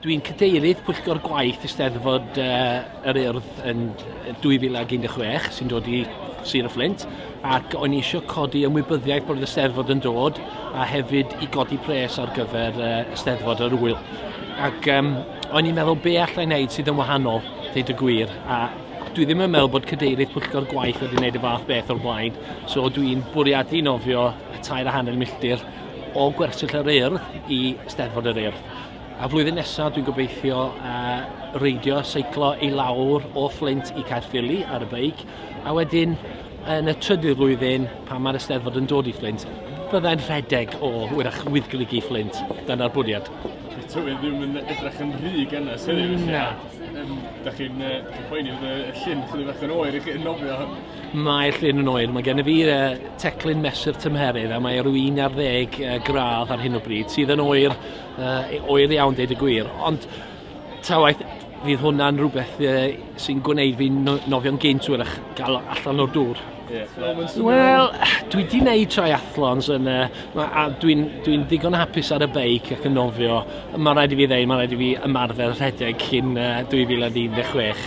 Dwi'n cadeirydd pwyllgor gwaith Eisteddfod uh, yr Urdd yn 2016 sy'n dod i Sir y Fflint ac o'n i eisiau codi ymwybyddiaeth bod y Eisteddfod yn dod a hefyd i godi pres ar gyfer uh, Eisteddfod yr Wyl. Ac um, o'n i'n meddwl be allai wneud sydd yn wahanol, dweud y gwir, a dwi ddim yn meddwl bod cadeirydd pwyllgor gwaith wedi gwneud y fath beth o'r blaen, so dwi'n bwriadu nofio y tair a hanner milltir o gwersyll yr urdd i Steddfod yr Urdd. A flwyddyn nesaf dwi'n gobeithio uh, reidio, seiclo i lawr o Flint i Caerffili ar y beic, a wedyn yn y trydydd flwyddyn, pan mae'r Eisteddfod yn dod i Flint, byddai'n rhedeg o wyrach wyddglygu Flint. Dyna'r bwriad. Tywydd ddim yn edrych yn rhy gynnes heddiw. Na. Da chi'n uh, poeni bod y llun chwilio bach yn oer i chi yn nofio Mae llun yn oer. Mae gennyf fi teclyn mesur tymheredd a mae rhyw 11 gradd ar hyn o bryd, sydd yn oer, e, oer iawn deud y gwir. Ond ta waeth, fydd hwnna'n rhywbeth e, sy'n gwneud fi'n nofio'n gynt wyrach gael allan o'r dŵr. Wel, dwi wedi gwneud triathlons yn, uh, a dwi'n dwi ddigon hapus ar y beic ac yn nofio. Mae'n rhaid i fi ddweud, mae'n rhaid i fi ymarfer rhedeg cyn uh, 2016.